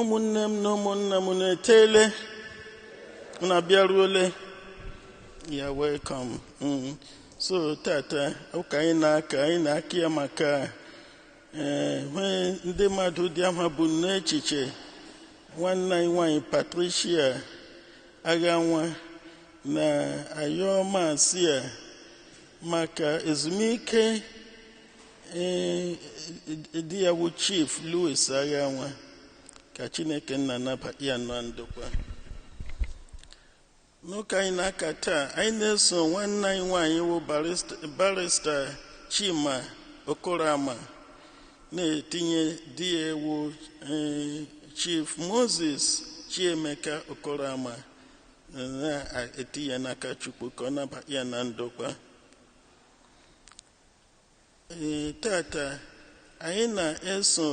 ụmụnne m na ụmụnna m unu eteele unu abịaruole you're welcome mm. so tata ụka anyị na-aka anyị na-aka ya maka ee eh, nwee ndị mmadụ dị anyị bu n'echiche nwanne anyị nwanyị patricia aghanwa na-ayọ mass a maka ezumike Ee, di ya wụ chief louis aghanwa ka chineke nna naba ya na ndokwa n'ụka anyị na-aka taa anyị na-eso nwanne anyị nwaanyị wụ barista- barista chima okorama na-etinye di ya wụ eh, chief moses chiemeka okorama eh, na-etinye ya n'aka chukwu ka ọ naba ya na ndokwa Ee, tata anyị na-eso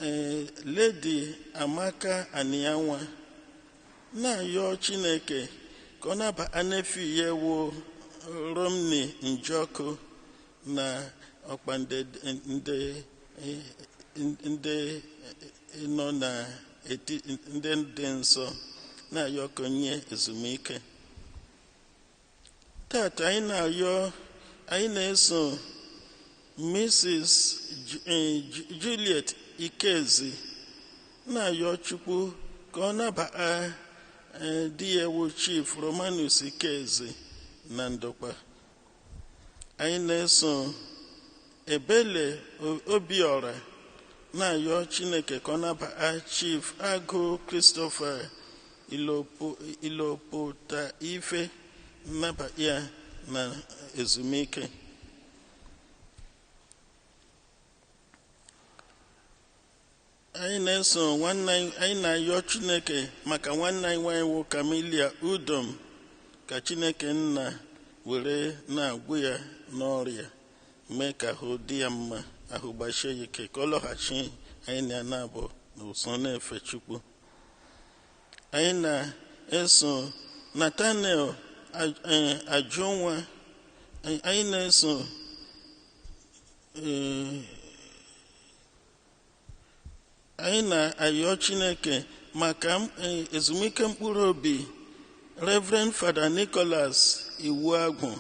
ee, Lady Amaka Anianwa na-ayọ Chineke ka ọ naba nephew ya wụ Romney Njọkụ na ọkpa ndị ndị ndị nọ n'etiti ndị dị nsọ na-ayọ ka o nye ezumike tata anyị na-ayọ anyị na-eso Mrs. Ju- eh, Ju- Juliet Ikezi na-ayọ Chukwu ka ọ nabata eh, di ya wụ Chief Romanus Ikezi na ndokwa anyị na-eso ebele obiọra na-ayọ chineke ka ọ naba chief agụ christopher iloputaife naba ya na ezumike anyị na-eso nwanne anyị anyị na-ayọ chineke maka nwanne anyị nwanyị wụ camilia udom ka chineke nna were na-agwụ ya n'ọrịa mee ka ahụ dị ya mma ahụ gbasie ya ike ka ọ lọghachi anyị na ya na-abụ n'ụsọ na-efe chukwu anyị na-eso nathaniel Aj- eh, ajụnwa anyị anyị na-eso eh, anyị na-ayọ chineke maka m- eh, ezumike mkpụrụ obi reverend father nicholas iwuagwụ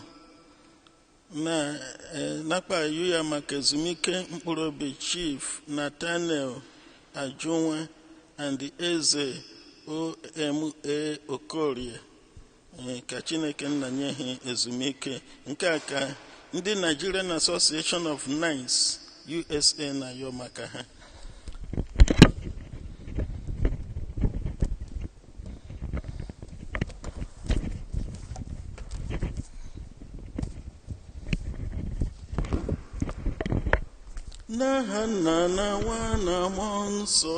na eh, nakpa ayọ ya maka ezumike mkpụrụ obi chief nathaniel ajunwa and eze oma okorie Ee, ka chineke nna nye ha ezumike nke a ka ndị nigerian association of knights usa na-ayọ maka ha n'aha nna na nwa na mmụọ nsọ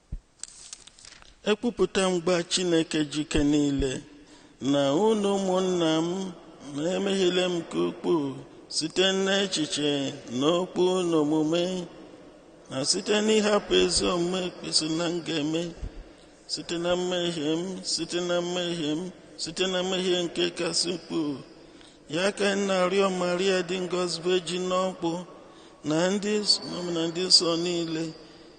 Ekwupụta m gwa Chineke ji ike niile na unu ụmụnna m na emehiele m nke ukwuu site n'echiche na okwu na omume na site n'ịhapụ ezi omume kwesị na m ga-eme site na mmehie m site na mmehie m site na mmehie nke kasị ukwuu ya ka m na-arịọ Maria dị ngọzi vejin ọkpụ na ndị mmụọ ọma na ndị nsọ niile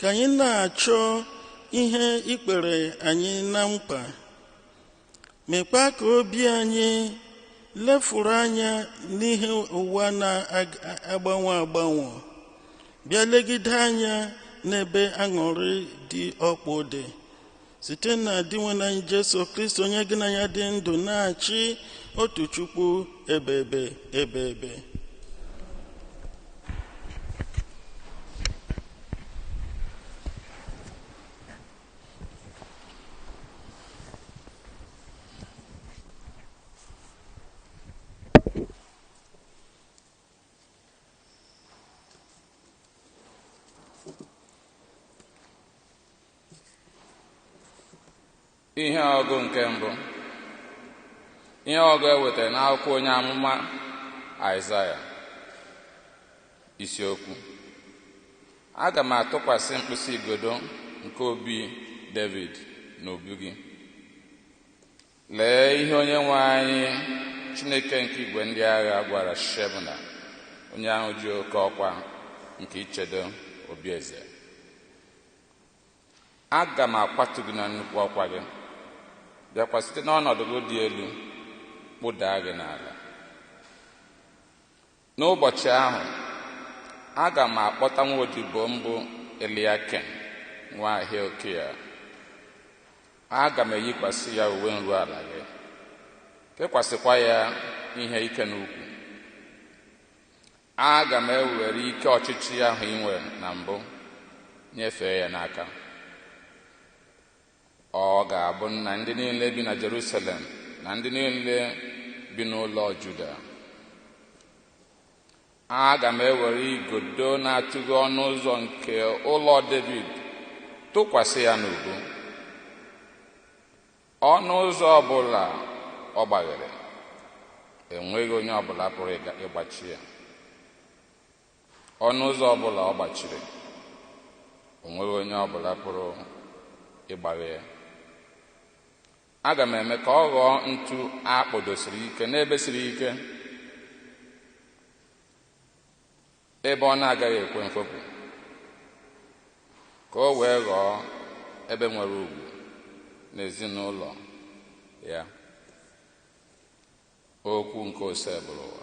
ka anyị na-achọ ihe i kwere anyị na nkwa mekwa ka obi anyị lefuru anya n'ihe ụwa na-agbanwe agbanwe bịa legide anya n'ebe aṅụrị dị ọkpụ dị site na dinwenụ anyị jesu kristi onye gị na ya dị ndụ na-achị otu chukwu ebebe ebebe ihe ọgụ nke mbụ ihe ọgụ ewetara n'akwụkwọ onye amụma aịzaya isiokwu aga m atụkwasị mkpịsị igodo nke obi david n'obi gị lee ihe onye nwe anyị chineke nke igwe ndị agha gwara shebna onye ahụ ji oke ọkwa nke ichedo obi eze aga m akwatu gị na nnukwu ọkwa gị bịakwa site n'ọnọdụ gị dị elu kpụdaa gị n'ala n'ụbọchị ahụ aga m akpọta nwa odibo m bụ eliakim nwa hilkia aga m eyikwasị ya uwe nru ala gị kekwasịkwa ya ihe ike n'ukwu Aga m ewere ike ọchịchị ahụ i nwere na mbụ nyefee ya n'aka. Ọ ga-abụ nna ndị niile bi na Jerusalem na ndị niile bi n'ụlọ Juda. Aga m ewere igodo na-atụghe ọnụ ụzọ nke ụlọ Devid tụkwasị ya n'ubu. ọnụ ụzọ ọbụla ọ gbaghere enweghị onye ọbụla pụrụ ịga- ịgbachi ya ọnụ ụzọ ọbụla ọ gbachiri onweghị onye ọbụla pụrụ ịgbaghe ya aga m eme ka ọ ghọọ ntu a kpọdosiri ike n'ebe siri ike ebe ọ na-agaghị ekwe mfopụ ka o wee ghọọ ebe nwere ugwu n'ezinụlọ ya okwu nke osebụrụwa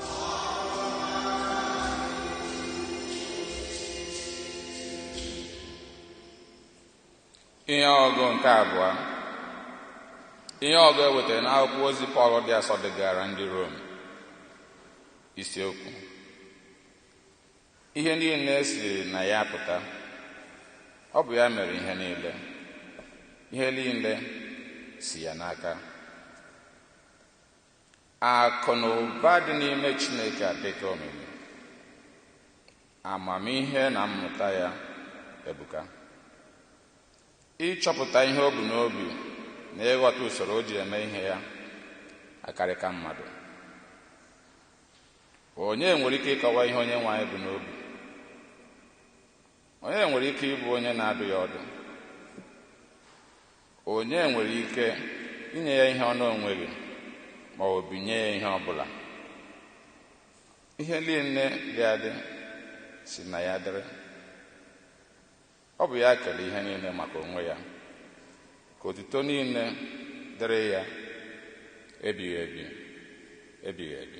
ihe ọgụ nke abụọ ihe ọgụ e wetara n'akwụkwọ ozi pọl dị asọ degaara ndị rom isiokwu ihe niile siri na ya pụta ọ bụ ya mere ihe niile ihe niile si ya n'aka Akụ na ụba dị n'ime Chineke adịka omimi. Amamihe na mmụta ya ebuka. Ịchọpụta ihe o bu n'obi na ịghọta usoro o ji eme ihe ya akarịka mmadụ. Onye nwere ike ịkọwa ihe Onyenwe anyị bu n'obi? Onye nwere ike ịbụ onye na-adụ ya ọdụ? Onye nwere ike inye ya ihe ọ na-enweghị ma ọ bụ binye ya ihe ọ bụla? Ihe niile dị adị si na ya dịrị. Ọ bụ ya kere ihe niile maka onwe ya. Ka otuto niile dịrị ya ebighị ebi, ebighị ebi.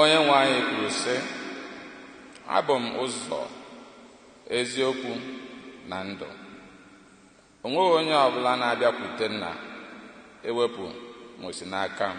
onye nwe anyị kwuru sị abụ m ụzọ eziokwu na ndụ o nweghị onye ọbụla na-abịakwute nna ewepụ ma o si n'aka m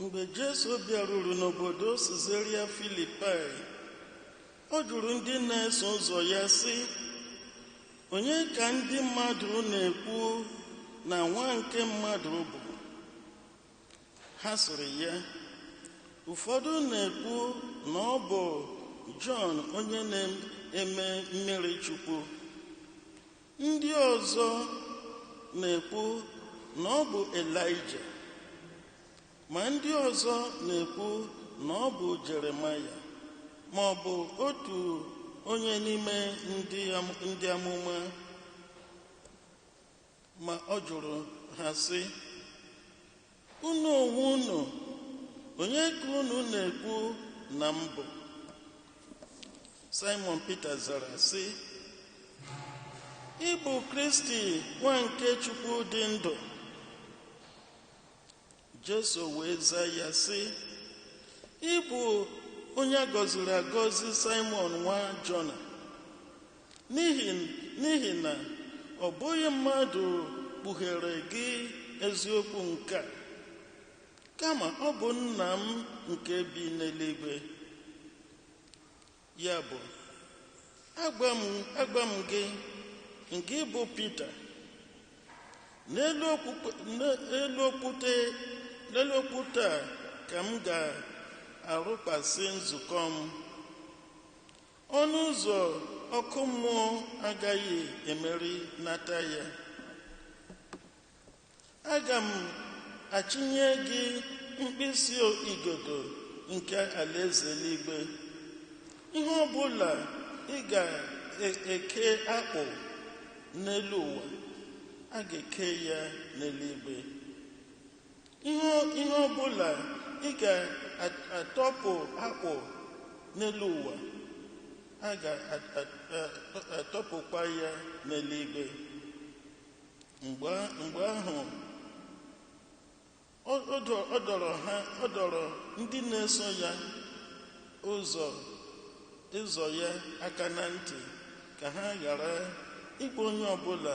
Mgbe Jesu bịaruru n'obodo Sizaria Filipaị, ọ jụrụ ndị na-eso ụzọ ya sị, Onye ka ndị mmadụ na-ekwu na Nwa nke Mmadụ bụ? Ha sịrị ya, Ụfọdụ na-ekwu na ọ bụ Jọn onye na-eme mmiri Chukwu. Ndị ọzọ na-ekwu na ọ bụ Elaịja, ma ndị ọzọ na-ekwu na ọ bụ Jeremaya ma ọ bụ otu onye n'ime ndị am- ndị amụma ma ọ jụrụ ha sị Unu onwe unu, onye ka unu na-ekwu na m bụ? Saịmọn Pita zara sị, Ị bụ Kristi nwa nke Chukwu dị ndụ. Jesu wee zaa ya sị, Ị bụ onye a gọziri agọzi Saịmọn nwa Jona. N'ihi n'ihi na ọ bụghị mmadụ kpughere gị eziokwu nke a, kama ọ bụ Nna m nke bi n'eluigwe. Ya bụ, agwa m agwa m gị, ngị bụ Pita, n'elu okwukwe n'elu okwute n'elu okwute a ka m ga-arụkwasị nzukọ m. Ọnụ ụzọ ọkụ mmụọ agaghị emerinata ya. Aga m achịnye gị mkpịsị igodo nke alaeze eluigwe. Ihe ọ bụla ị ga-eke agbụ n'elu ụwa, a ga-eke ya n'eluigwe. Ihe ihe ọ bụla ị ga-atọpụ agbụ n'elu ụwa, a ga-atọpụkwa ya n'eluigwe. Mgbe mgbe ahụ, ọ ọ dọ- ọ dọrọ ha ọ dọrọ ndị na-eso ya ụzọ ụzọ ya aka na ntị ka ha ghara ịgwa onye ọbụla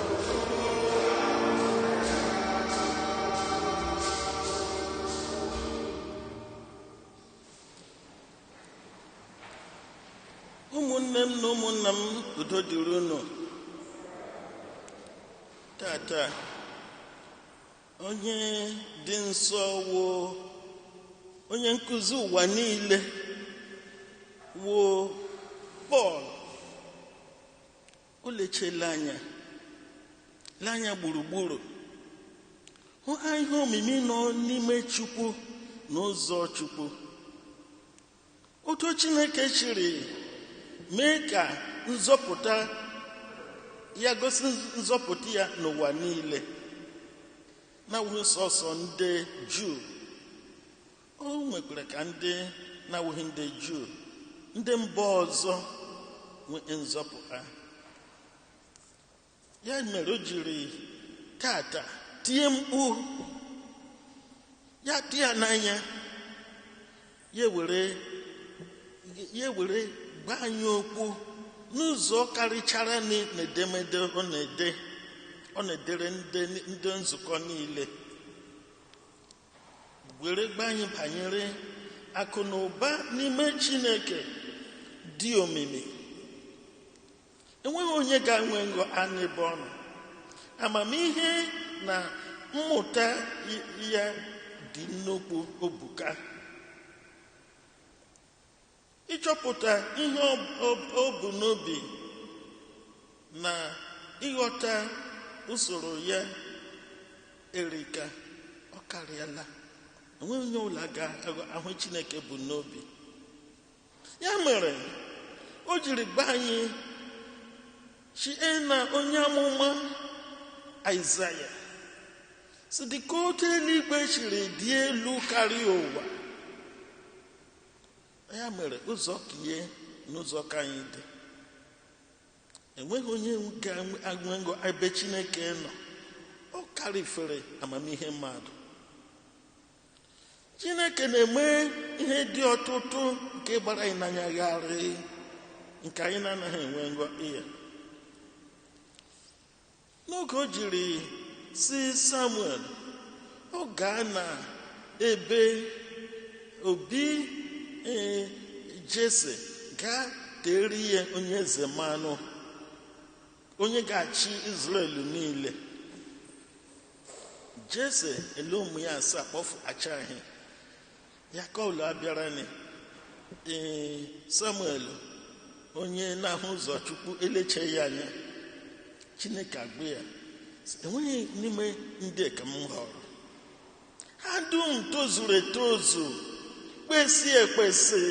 ụmụnne m na ụmụnna m udo dịrị unu taata onye dị nsọ wụ onye nkụzi ụwa niile wụ Pọl O lechee lee anya lee anya gburugburu hụ a ihe omimi nọ n'ime Chukwu na ụzọ Chukwu otu Chineke jiri mee ka nzọpụta ya gosi nzọpụta ya n'ụwa niile na-awụghị sọsọ ndị Juu o nwekwara ka ndị na-awụghị ndị juu ndị mba ọzọ nwee nzọpụta ya mere o jiri tata tie mkpu ya tụ ya n'anya ya were ya were gwa anyị okwu n'ụzọ karịchara n'edemede ọ na-ede ọ na-edere ndị nzukọ niile were gwa anyị banyere akụ na ụba n'ime chineke dị omimi enweghị onye ga-enwe ngọ anụ ebe ọ nọ amamihe na mmụta ya dị nnukwu o buka ịchọpụta ihe o bu n'obi na ịghọta usoro ya erika ọ karịala enweghị onye ọbụla ga-ahụ ihe chineke bu n'obi ya mere o jiri gwa anyị sie na onye amụma aịzaya sị dịka otu eluigwe siri dị elu karịa ụwa ya mere ụzọ ke ya na ụzọ ke anyị dị enweghị onye ga-agụngo ebe chineke nọ ọ karịfere amamihe mmadụ chineke na-eme ihe dị ọtụtụ nke gbara anyị n'anya gharịị nke anyị na-anaghị enwe ngọ ya N'oge o jiri sị Samuel, ọ gaa na ebe obi ee, Jese gaa tere ya onye eze mmanụ, onye ga-achị Izrel niile. Jese ele ụmụ ya asaa kpọfụtachaa. ya nke ọbụla bịara ni ee samuel onye na-ahụ ụzọ chukwu elechaa ya anya chineke agwa ya sị, enweghị n'ime ndị ka m họọrọ ha dum tozuru etozu kwesị ekwesị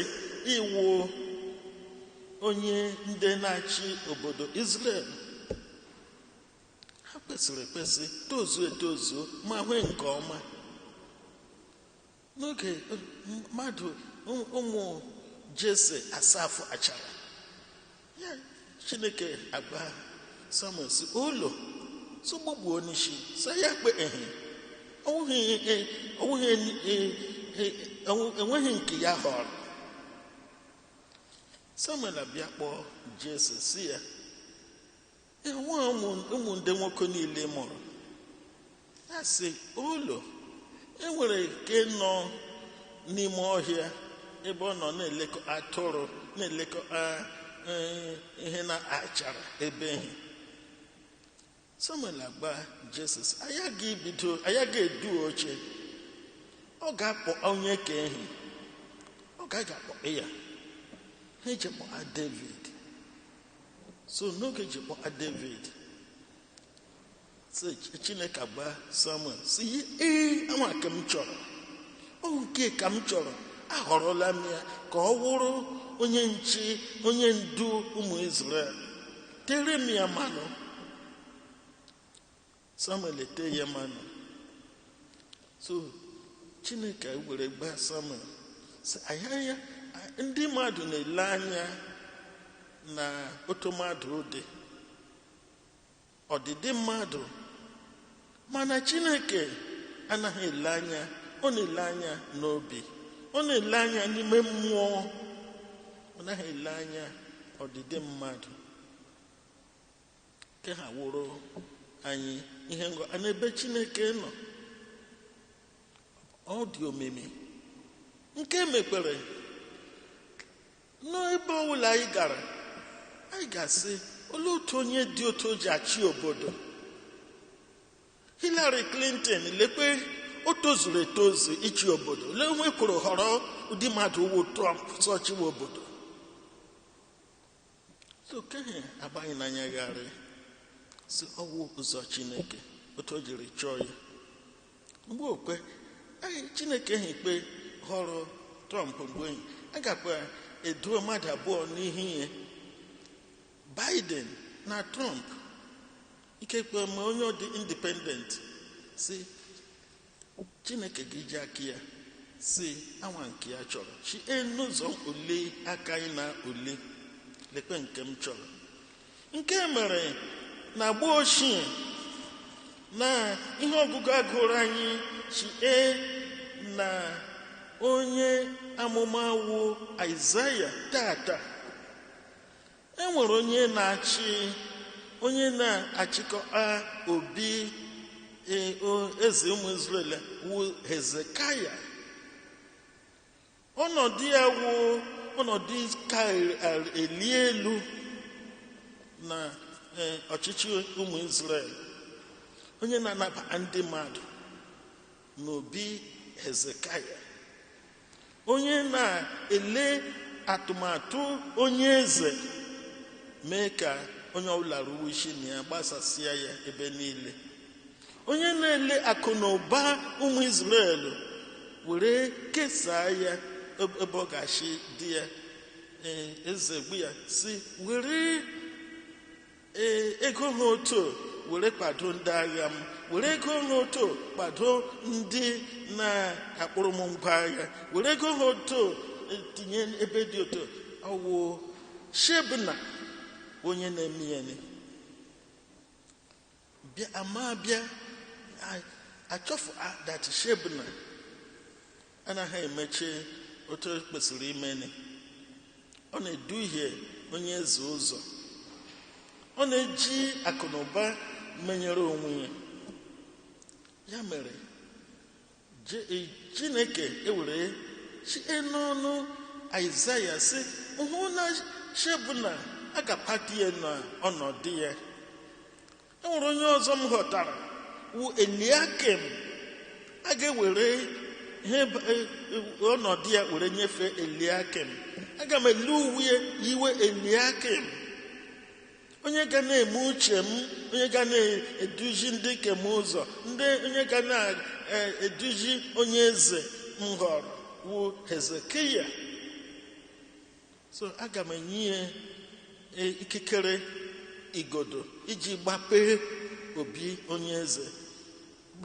ịwụ onye ndu na-achị obodo Israel ha kwesịrị ekwesị tozuo etozu maa ihe nke ọma n'oge mmadụ ụmụ jese asaa fụtachara ya chineke agwa samuel sị ụlọ sogbogbuo n'isi sị ya kpe ehi enweghị nke ya họrọ samuel abịa kpọọ jese sị ya enwe ụmụ ndị nwoke niile mụrụ a sị olo enwere nke nọ n'ime ọhịa ebe ọ nọ na-elekọta atụrụ na-elekọta ihe na-achara ebe ehi samuel agwa jesse anya ga-ebido anya ga-edu oche ọ ga-akpọ onye nke ehi ọ gaa kpọa ya ha eji kpọa david so n'oge ji kpọa david si chineke agwa samuel sị ya ee anwa ka m chọrọ ọ nke ka m chọrọ ahọrọla m ya ka ọ wụrụ onye nche onye ndu ụmụ israel tere m ya mmanụ samuel ete ya mmanụ so chineke ewere gwa samuel sị anyị anya ndị mmadụ na-ele anya na otu mmadụ dị ọdịdị mmadụ mana chineke anaghị ele anya ọ na-ele anya n'obi ọ na-ele anya n'ime mmụọ ọ naghị ele anya ọdịdị mmadụ nke a wụrụ anyị ihe ngọ a n'ebe chineke nọ ọ dị omimi nke mekwere n'ebe ọbụla anyị gara anyị ga-asị olee otu onye dị otu o ji achị obodo Hillary Clinton lekwe o tozuru etozu ịchị obodo lee ihe e kworo họrọ ụdị mmadụ wụ Trump sị ọ chịwa obodo so nke ehi agbaghị n'anya gharị sị ọ wụ ụzọ chineke otu o jiri chọọ ya mgbe okwe anyị chineke ha ikpe họrọ trump mgbe anyị gakwa eduo mmadụ abụọ n'ihu anyị biden na trump ikekwe ma onye dị independent si Chineke ga-eji aka ya sị anwa nke ya chọrọ chi enu ụzọ ole aka anyị na ole lekwe nke m chọrọ nke mere na agba ochie na ihe ọgụgụ a gụrụ anyị si na onye amụma wụ Aịzaya taata e nwere onye na-achị onye na-achịkọta obi e, o- eze ụmụ Izrel wụ Hezekaya ọnọdụ ya wụ ọnọdụ ka eli elu na e, ọchịchị ụmụ Izrel onye na-anabata ndị mmadụ n'obi hezekaya onye na-ele atụmatụ onye eze mee ka onye ọbụla ruwe isi na ya gbasasịa ya ebe niile onye na-ele akụ na ụba ụmụ Izrel were kesaa ya ebe ọ ga-esi dị ya eze gwa ya sị were ee ego ha otu were kwado ndị agha m were ego ha otu kwado ndị na-akpụrụ m ngwa agha were ego ha otu e, tinye ebe dị otu ọ wụ shebna onye na-eme ya ni. bịa ama bịa achọfụ ah, that shebna anaghị emechi otu o kwesịrị imeni ọ na-eduhie onye eze ụzọ ọ na-eji akụ na ụba menyere onwe ya ya mere Je- e- chineke ewere sie n'ọnụ aịzaya sị hụ na shebna a ga-apatu ya na ọnọdụ ya e nwere onye ọzọ m họtara wu eliakim a ga-ewere ihe b- e- e- ọnọdụ ya were nyefee eliakim aga m ele uwe ya yiwe eliakim onye ga na-eme uche m onye ga na-eduzi ndị nke m ụzọ ndị onye ga na-eduzi onye eze m họrọ wu hezekiya so aga m enye ya e, ikikere igodo iji gbapee obi onye eze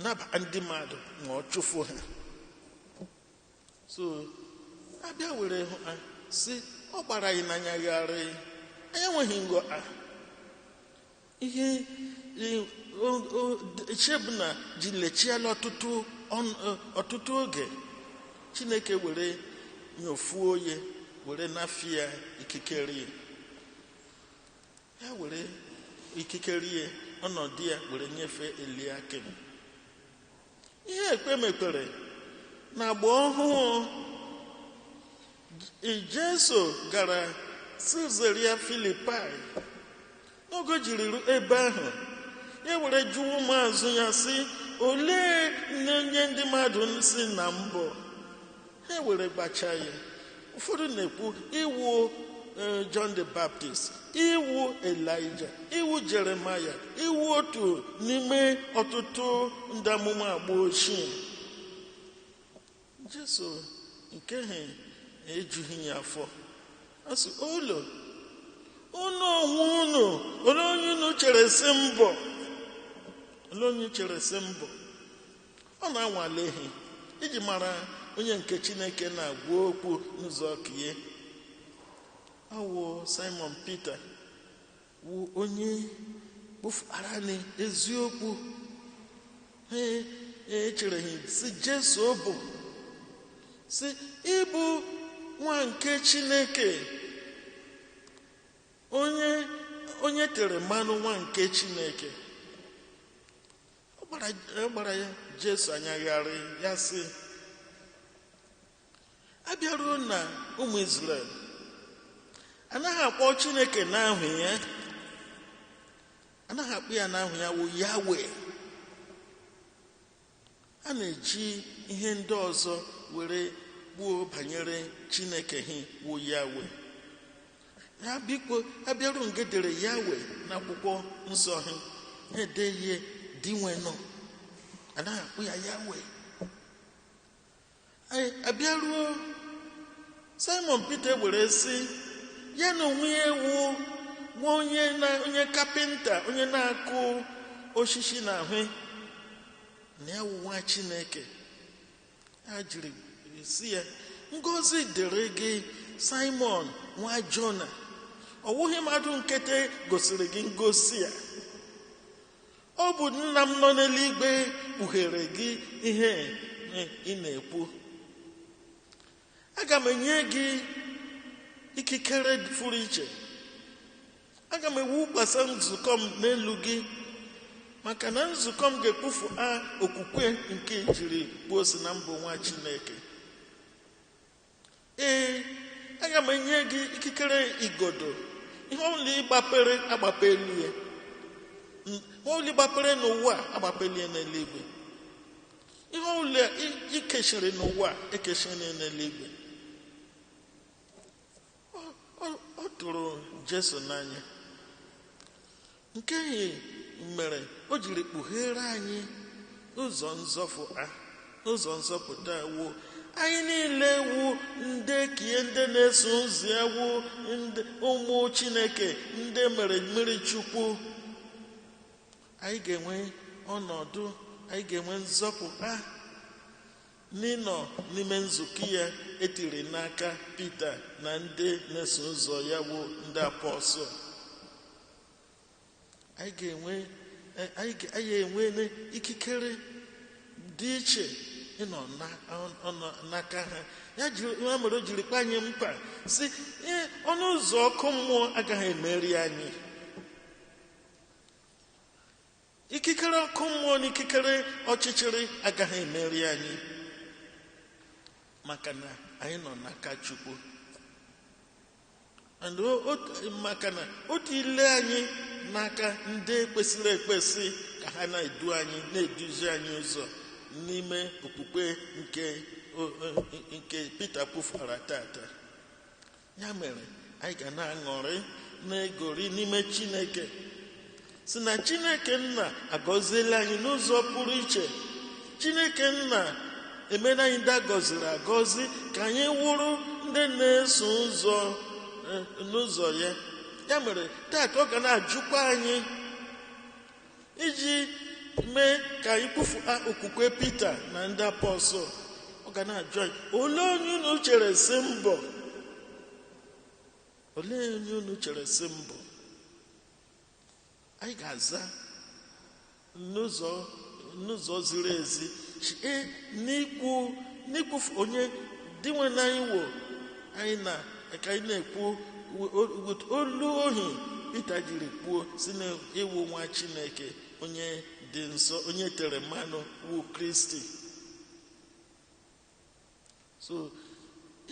naba ndị mmadụ ma ọ chụfu ha so abịa were hụ a sị ọ gbara anyị n'anya gharịị anyị enweghị nghọta ihe i- o- o- d- Shebna ji le chịala ọtụtụ ọnụ- ọ- ọtụtụ oge chineke were nyofuo ya were nafụ ya ikikere ya ya were ikikere ya ọnọdụ ya were nyefee eliakim ihe ekpe mekwere na agba ọhụụ Jesu gara sizeria filipai n'oge o jiri ru ebe ahụ e were jụọ ụmụazụ ya sị olee nụ onye ndị mmadụ na-asị na m bụ ha ewere gwachaa ya ụfọdụ na-ekwu ị wụ eh, John the Baptist ị wụ Elija ị wụ Jeremaya ị wụ otu n'ime ọtụtụ ndị amụma agba ochie Jesu nke ha ejughị ya afọ ọ sị olee unu onwe unu olee onye unu chere sị m bụ olee onye chere sị m bụ ọ na-anwale ha iji mara onye nke chineke na-agwa okwu n'ụzọ nke ya ọ wụ simon pita wụ onye kwufụara na eziokwu ha echereghị sị jesu ọ bụ sị ị bụ nwa nke chineke onye onye tere mmanụ nwa nke chineke ọ gbara jesu anya gharịị ya sị a bịaruo na ụmụ Izrel anaghị akpọ Chineke n'aha ya anaghị akpọ ya n'aha ya wụ yawe a na-eji ihe ndị ọzọ were kwuo banyere Chineke ha wụ yawe ha biko a bịaruo nga e dere yawe n'akwụkwọ nsọ ha na-ede ya dinwenụ anaghị akpọ ya yawe a bịaruo simon peter were sị ya na onwe ya wụ nwa onye na onye kapịnta onye na-akụ osisi na ahụ na ya wụ nwa chineke o jiri sị ya ngozi dịrị gị simon nwa jona ọ wụghị mmadụ nkịtị gosiri gị ngosi a ọ bụ nna m nọ n'eluigwe kpughere gị ihe ị na-ekwu aga m enye gị ikikere pụrụ iche aga m ewukwasa nzukọ m n'elu gị maka na nzukọ m ga-ekwufụa okwukwe nke i jiri kwuo sị na m bụ nwa chineke ee aga m enye gị ikikere igodo ihe ọbụla ị gbapere a gbapeela ya ihe ọbụla ị gbapere n'ụwa a gbapeela ya n'eluigwe ihe ọbụla i kechiri n'ụwa e kechiri n'eluigwe ọ tụrụ jesu n'anya nke ihe mere o jiri kpughere anyị ụzọ nzọfụ a ụzọ nzọpụta wụ anyị niile wụ ndị nke ya ndị na-eso ụzọ ya wụ ụmụ chineke ndị mere mmiri chukwu anyị ga-enwe ọnọdụ anyị ga-enwe nzọpụta n'ịnọ n'ime nzukọ ya e tiri n'aka Pita na ndị na-eso ụzọ ya bụ ndị apọstụl anyị ga-enwe anyị enwe ikikere dị iche ịnọ n'aka ha ya nwa mere o jiri kwe anyị nkwa sị ọnụ ụzọ ọkụ mmụọ agaghị emeri anyị ikikere ọkụ mmụọ na ikikere ọchịchịrị agaghị emeri anyị maka na anyị nọ n'aka chukwu and o- o- maka na o tiile anyị n'aka ndị kwesịrị ekwesị ka ha na-edu anyị na-eduzi anyị ụzọ n'ime okpukpe nke o- o- nke Pita kwufara tata ya mere anyị ga na-aṅụrị na-egori n'ime chineke sị na chineke nna agọziela anyị n'ụzọ pụrụ iche chineke nna emela anyị ndị agọziri agọzi ka anyị wụrụ ndị na-eso ụzọ eh, n'ụzọ ya ya mere taa ka ọ ga na-ajụkwa anyị iji mee ka anyị kwufuta okwukwe Pita na ndị apọstụl ọ ga na-ajụ anyị olee onye unu chere sị m bụ olee onye unu chere sị m bụ anyị ga-aza n'ụzọ n'ụzọ ziri ezi site n'ikwu n'ikwufu onye dinwenụ anyị wụ anyị na ka anyị na-ekwu with olu ohi Pita jiri kwuo sị na ị wụ nwa Chineke onye dị nsọ onye tere mmanụ wu Kristi so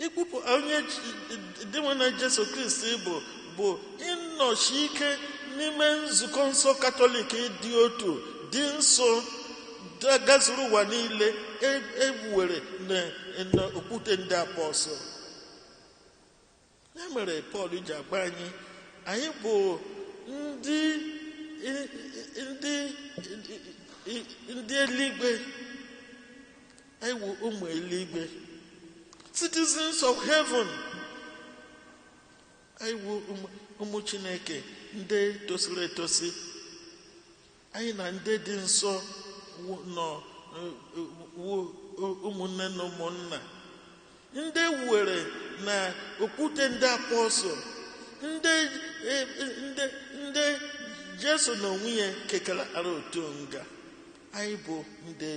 ikwupụ onye dinwenụ Jesu Kristi bụ bụ ịnọsi ike n'ime nzukọ nsọ katọlik dị otu dị nsọ gazuru ụwa niile e wuwere e, e, n'okwute ndị apọsụl ya mere pọl ji agwa anyị anyị bụ ndị ndị ndị eluigwe anyị bụ ụmụ eluigwe citizens of heaven anyị bụ ụmụ chineke ndị tosiri etosi anyị na ndị dị nsọ nọ ụmụnne na ụmụnna ndị e wuwere na okwute ndị apọsụl ndị e, e, ndị ndị jesu na onwe ya kekọtara otu nga anyị bụ ndị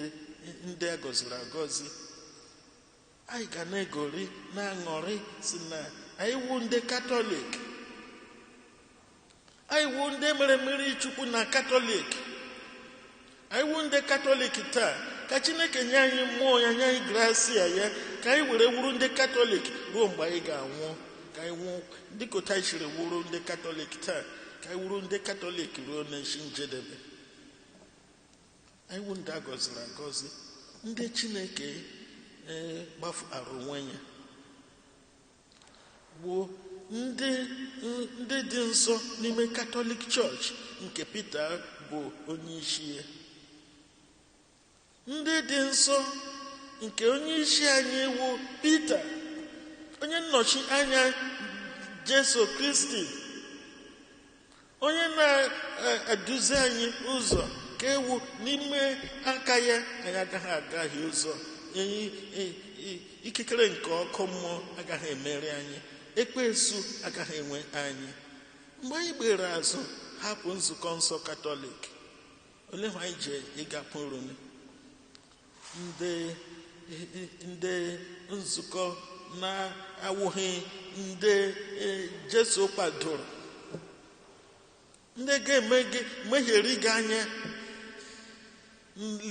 ndị agọziri agọzi anyị ga na-egori na-aṅụrị sị na anyị wu ndị katọlik anyị wu ndị e mere mmiri chukwu na katọlik anyị wu ndị katọlik taa ka chineke nye anyị mmụọ ya nye anyị grasia ya ka anyị were wuru ndị katọlik ruo mgbe anyị ga-anwụ ka anyị nwụọ dịka otu anyị siri wuru ndị katọlik taa ka anyị wuru ndị katọlik ruo n'isi njedebe anyị wu ndị agọziri agọzi ndị chineke ee gbafụtara onwe ya gbuo ndị ndị dị nsọ n'ime katọlik chọọchị nke Pita bụ onye isi ya ndị dị nsọ nke onye isi anyị wụ Pita onye nnọchi anya Jesu Kristi onye na-eduzi anyị ụzọ ka ewu n'ime aka ya anyị agaghị agahie ụzọ ikikere nke ọkụ mmụọ agaghị emeri anyị ekwensu agaghị enwe anyị mgbe anyị gbere azụ hapụ nzukọ nsọ katọlik olee ihe anyị ji gakwuru ndị ndị nzukọ na-awụghị ndị e, Jesu kwadoro ndị ga-eme gị megharịa gị anya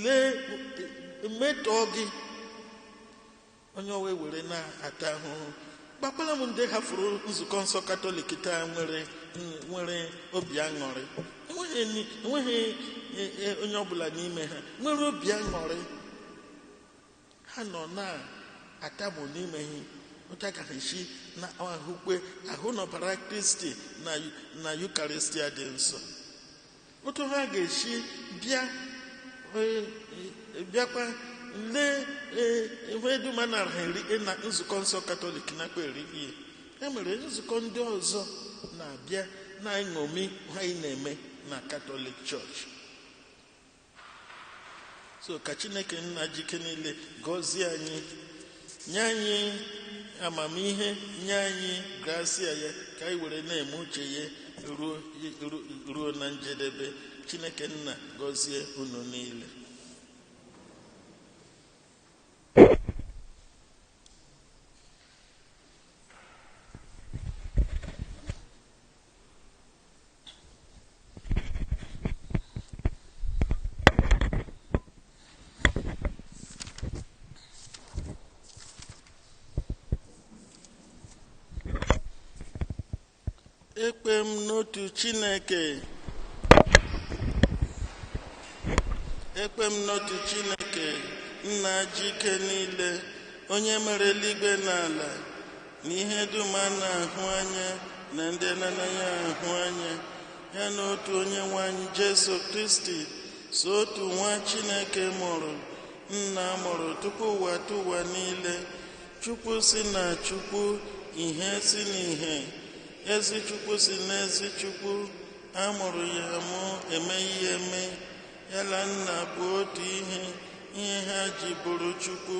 lee metọọ gị onye ọwa ewere na-ata ahụhụ gwakwala m ndị hafụrụ nzukọ nsọ katọlik taa nwere nwere obi aṅụrị enweghị ni- enweghị e, e, onye ọbụla n'ime ha nwere obi aṅụrị ha nọ na-atamu n'ime ha otu aga ha esi na-ahụkwa ahụ na ọbara kristi na na yukaristia dị nsọ otu ha ga-esi bịa eh, eh, bịakwa lee eh, ihe dum a na-araha eri eh, na nzukọ nsọ katọlik nakwa eri ihe e mere nzukọ ndị ọzọ na-abịa na-eṅomi ihe anyị na-eme na katọlik chọọchị so ka chineke nna ji ike niile gọzie anyị nye anyị amamihe nye anyị grasia ya ka anyị were na-eme uche ya ruo ruo- ruo na njedebe chineke nna gọzie unu niile ekwe m n'otu chineke ekwe m n'otu chineke nna ji ike niile onye mere eluigwe na ala na ihe dum a na-ahụ anya na ndị a na-anaghị ahụ anya ya na otu onye nwe anyị jesu kristi sọ otu nwa chineke mụrụ nna mụrụ tupu ụwatụwa niile chukwu si na chukwu ihe si na ihe ezi chukwu si n'ezi chukwu a mụrụ ya amụ emeghị ya eme ya na nna bụ otu ihe ihe ha ji bụrụ chukwu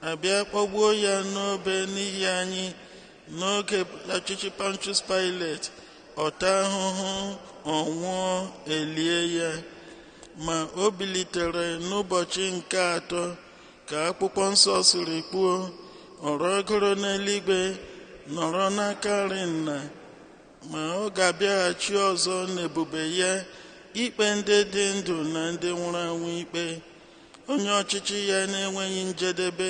a bịa kpọgbuo ya n'obe n'ihi anyị n'oge ọchịchị Pontius Pilate ọ taa ahụhụ ọ nwụọ e lie ya ma o bilitere n'ụbọchị nke atọ ka akwụkwọ nsọ siri kwuo ọ rọgoro n'eluigwe nọrọ n'aka nri nna ma ọ ga-abịaghachi ọzọ n'ebube ya ikpe ndị dị ndụ na ndị nwụrụ anwụ ikpe onye ọchịchị ya na-enweghị njedebe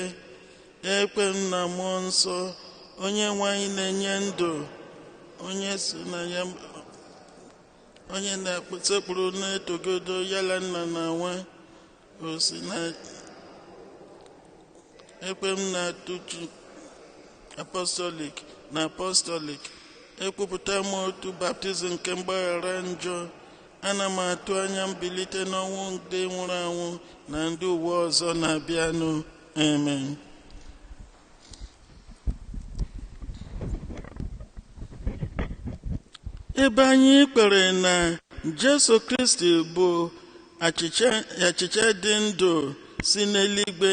ekwe m na mmụọ nsọ onyenweanyị na-enye ndụ onye so na ya onye a na-esekpuru na-etokọdo ya na nna na nwa o si na ekwe m na otu apọstọlik na apọstọlik ekwupụta m otu baptizim nke mgbaghara njọ ana m atụ anya mbilite n'ọnwụ ndị nwụrụ anwụ na ndụ ụwa ọzọ na-abịanụ amen ebe anyị kwere na jesu kristi bụ achịcha dị ndụ si n'eluigwe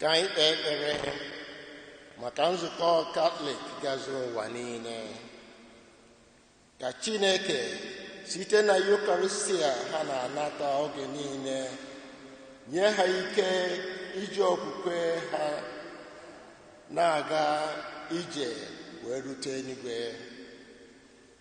ka anyị kpee ekpere maka nzukọ katọlik gazuru ụwa niile ka chineke site na yukaristia ha na-anata oge niile nye ha ike iji okwukwe ha na-aga ije wee rute eluigwe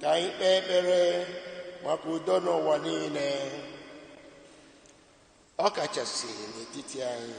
ka anyị kpee ekpere maka udo n'ụwa niile ọ kachasị n'etiti anyị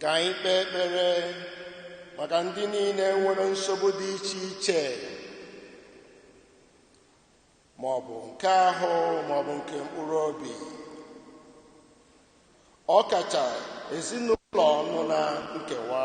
ka anyị kpee ekpere maka ndị niile nwere nsogbu dị iche iche ma ọ bụ nke ahụ ma ọ bụ nke mkpụrụ obi ọ kacha ezinụlọ nọ na nkewa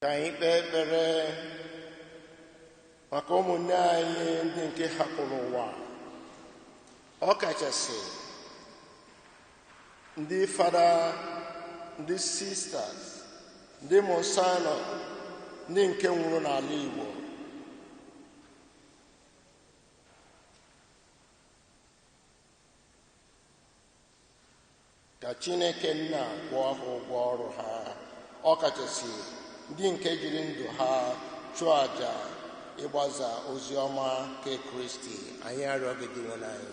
ka anyị kpee ekpere maka ụmụnne anyị ndị nke hapụrụ ụwa ọ kachasị ndị fada ndị sisters ndị monsignor ndị nke nwụrụ n'ala Igbo ka chineke nna kwụọ ha ụgwọ ọrụ ha ọkachasị ndị nke jiri ndụ ha chụọ àjà ịgbasa ozi ọma nke kristi anyị arịọ gị dinwenụ anyị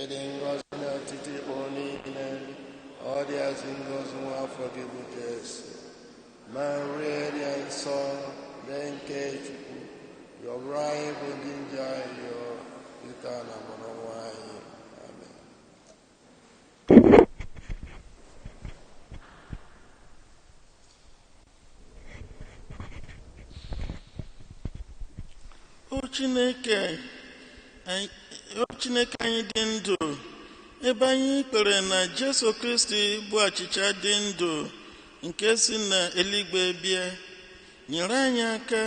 ị dị ngọzi n'etiti ikporo niile ọ dịazị ngọzi nwa afọ gị bụ Jesu Maria dị asọ nne nke Chukwu yọbara anyị bụ ndị njọ ayịyọ kịta na mgbe ọnwụ anyị O Chineke anyị- o Chineke anyị dị ndụ ebe anyị kwere na Jesu Kristi bụ achịcha dị ndụ nke si na eluigwe bịa nyere anyị aka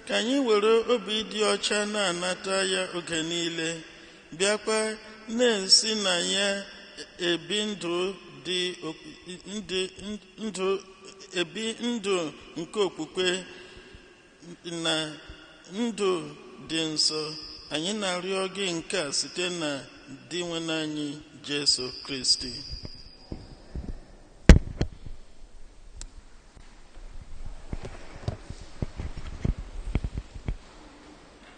ka anyị were obi dị ọcha na-anata ya oge niile bịakwa na-esi na ya ebi ndụ dị ndụ ebi ndụ nke okwukwe na ndụ dị nsọ anyị na-arịọ gị nke a site na Dinwenụ anyị Jesu Kristi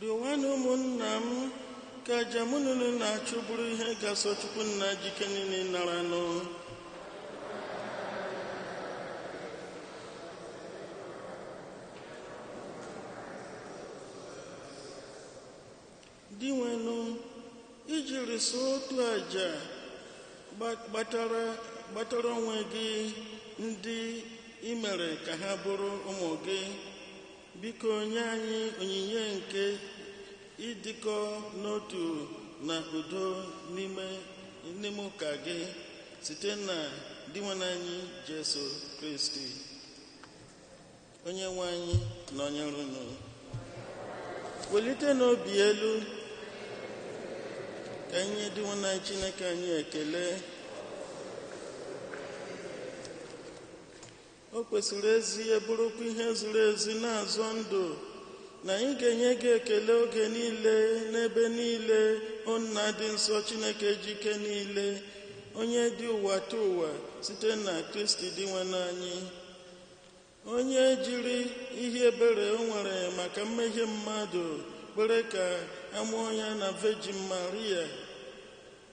Rịọwanụ ụmụnna m ka aja mụ na unu na-achụ bụrụ ihe ga-asọ Chukwu nna ji ike niile naranụ. Dinwenụ, i jiri sọ otu aja gba- gbatara gbatara onwe gị ndị i mere ka ha bụrụ ụmụ gị biko nye anyị onyinye nke ịdịkọ n'otu na udo n'ime n'ime ụka gị site na dinwenụ anyị jesu kristi onye nwe anyị nọnyere unu welitenụ obi elu ka anyị nye dinwenụ anyị chineke anyị ekele o kwesịrị ezie bụrụkwa ihe ziri ezi na-azọ ndụ na anyị ga-enye gị ekele oge niile n'ebe niile o nna dị nsọ chineke ji ike niile onye dị ụwatụwa site na kristi dinwenụ anyị onye jiri ihe ebere o nwere maka mmehie mmadụ kwere ka a mụọ ya na vejin maria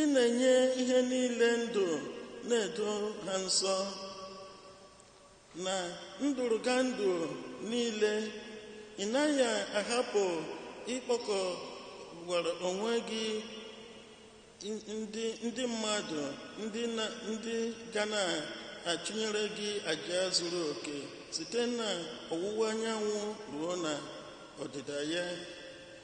ị na-enye ihe niile ndụ na-edo ha nsọ na ndụrụgandụ niile ị naghị ahapụ ịkpọkọwara onwe gị ndị ndị mmadụ ndị na ndị ga na-achụnyere gị aja zuru oke site na ọwụwa anyanwụ ruo na ọdịda ya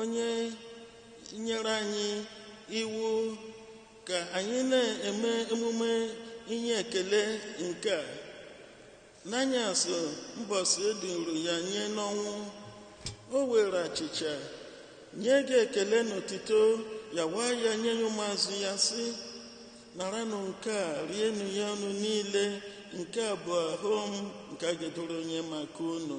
onye nyere anyị iwu ka anyị na-eme emume inye ekele nke a n'anyasị mbọsị e duru ya nye n'ọnwụ o were achịcha nye gị ekele na otito nyawaa ya nye ya ụmụazụ ya sị naranụ nke a rienụ ya unu niile nke a bụ ahụ m nke a ga-eduru nye maka unu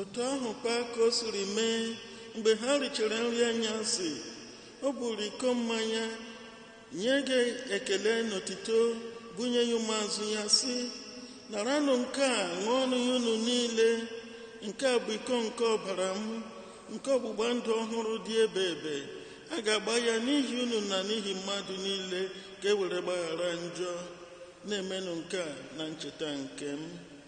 otu ahụ kwa ka o siri mee mgbe ha richara nri anyasị o buru iko mmanya nye gị ekele na otito bunye ya ụmụazụ ya sị naranụ nke a ṅụọnụ ya unu niile nke a bụ iko nke ọbara m nke ọgbụgba ndụ ọhụrụ dị ebeebe a ga-agba ya n'ihi unu na n'ihi mmadụ niile ka e were gbaghara njọ na-emenụ nke a na ncheta nke m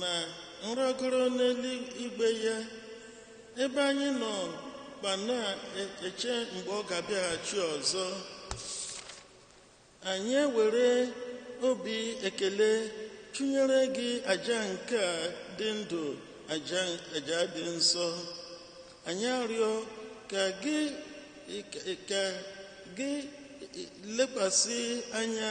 na nrọgoro n'eluigwe ya ebe anyị nọkwa na-eche mgbe ọ ga-abịaghachi ọzọ anyị ewere obi ekele chụnyere gị aja nke a dị ndụ aja aja dị nsọ anyị arịọ ka gị ka gị lekwasị anya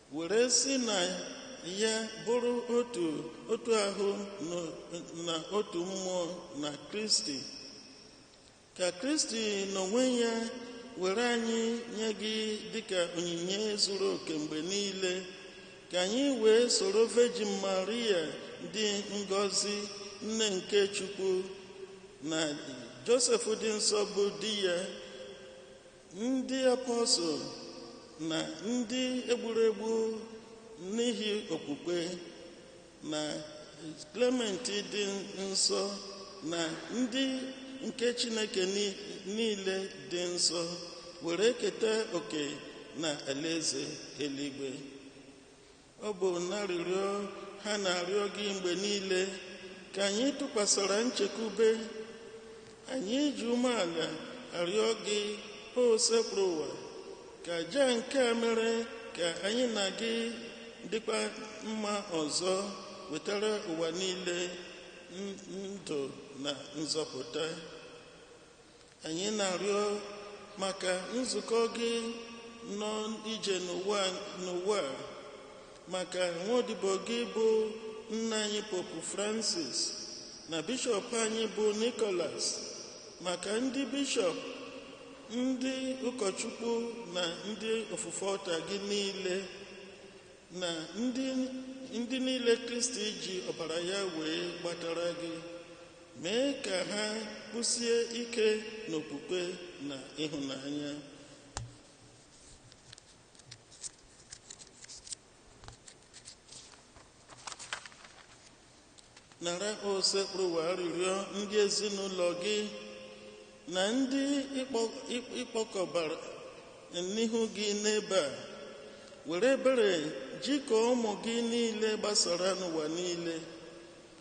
were si na ya bụrụ otu otu ahụ na otu mmụọ na kristi ka kristi n'onwe ya were anyị nye gị dịka onyinye zuru oke mgbe niile ka anyị wee soro vejin maria dị ngọzi nne nke chukwu na josef dị nsọ bụ di ya ndị apọstụl na ndị e gburu egbu n'ihi okwukwe na Klement dị nsọ na ndị nke Chineke ni- niile dị nsọ were keta oke na alaeze eluigwe Ọ bụ n'arịrịọ ha na-arịọ gị mgbe niile ka anyị tụkwasara nchekwube. Anyị ji umeala arịọ gị, Osebụrụwa, ka aja nke a mere ka anyị na gị dịkwa mma ọzọ wetara ụwa niile ndụ na nzọpụta. anyị na-arịọ maka nzukọ gị nọ ije n'ụwa a, maka nwodibo gị bụ nna anyị popu francis na bishọp anyị bụ nicholas maka ndị bishọp ndị ụkọchukwu na ndị ofufe ọlta gị niile na ndị niile kristi ji ọbara ya wee gbatara gị mee ka ha kwụsie ike n'okwukwe na ịhụnanya nara osebụrụwa arịrịọ ndị ezinụlọ gị na ndị ị kpọkọbara n'ihu gị n'ebe a were ebere jikọọ ụmụ gị niile gbasara n'ụwa niile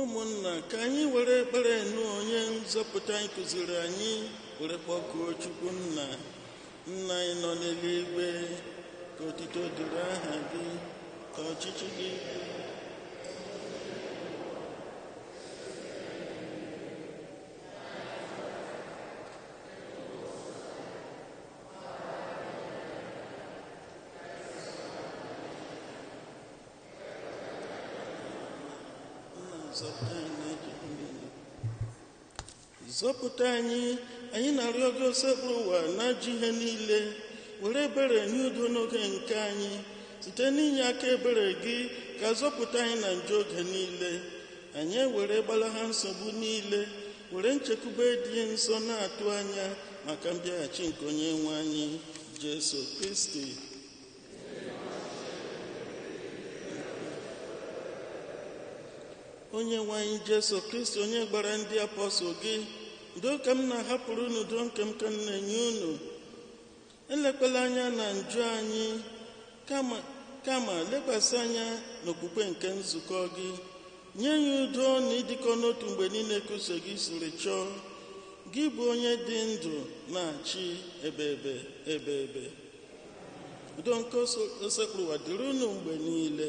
ụmụnna ka anyị were ekpere nụ onye nzọpụta anyị kuziri anyị were kpọkuo chukwu nna nna anyị nọ n'eluigwe ka otito dịrị aha gị ka ọchịchị gị bịa. zọpụta anyị anyị na-arịọ gị osebụrụwa n'ajọ ihe niile were ebere nye udo n'oge nke anyị site n'inye aka ebere gị ka a zọpụta anyị na njọ oge niile anyị ewere gbalaha nsogbu niile were nchekwube dị nsọ na-atụ anya maka mbịaghachi nke onye nwe anyị jesu kristi onye nwe anyị jesu kristi onye gwara ndị apọstụl gị udo ka m na-ahapụrụ unu udo nke m ka m na-enye unu elekwala anya na njọ anyị kama lekwasị anya n'okwukwe nke nzukọ gị nye ya udo na ịdịkọ n'otu mgbe niile ka uche gị siri chọọ gị bụ onye dị ndụ na-achị ebebe ebebe udo nke osebụrụwa dịrị unu mgbe niile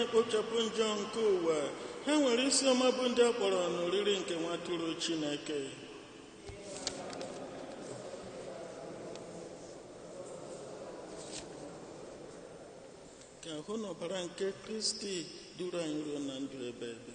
na-ekpochapụ njọ nke ụwa ha nwere isi ọma bụ ndị a kpọrọ n'oriri nke nwatụrụ Chineke ka ahụ na ọbara nke Kristi duru anyị ruo na ndụ ebeebe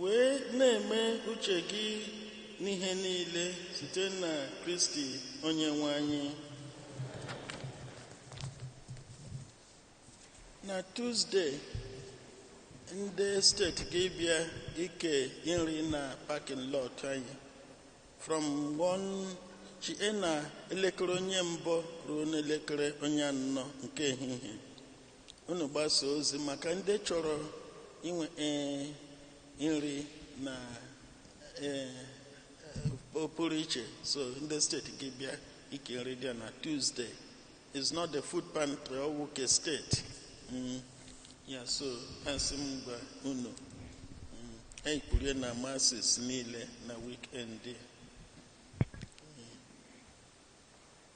wee na-eme uche gị n'ihe niile site na Kristi Onyenwe anyị na Tuzde ndị steeti ga-ebịa ike nri na parking lot anyị from 1 chi na elekere onye mbụ ruo n'elekere onye anọ nke ehihie unu gbasaa ozi maka ndị chọrọ inwe ee, nri na ee, ọ pụrụ iche so ndị steeti ga-ebịa ike nri dị na tuzdee it's not the food pantry ọ wụ ke steeti Mm. ya so a sị m gwa unu mm, anyị kwuru ya na Masses niile na weekend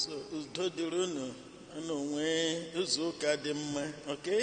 so udo dịrị unu unu nwee izu ụka dị mma okay?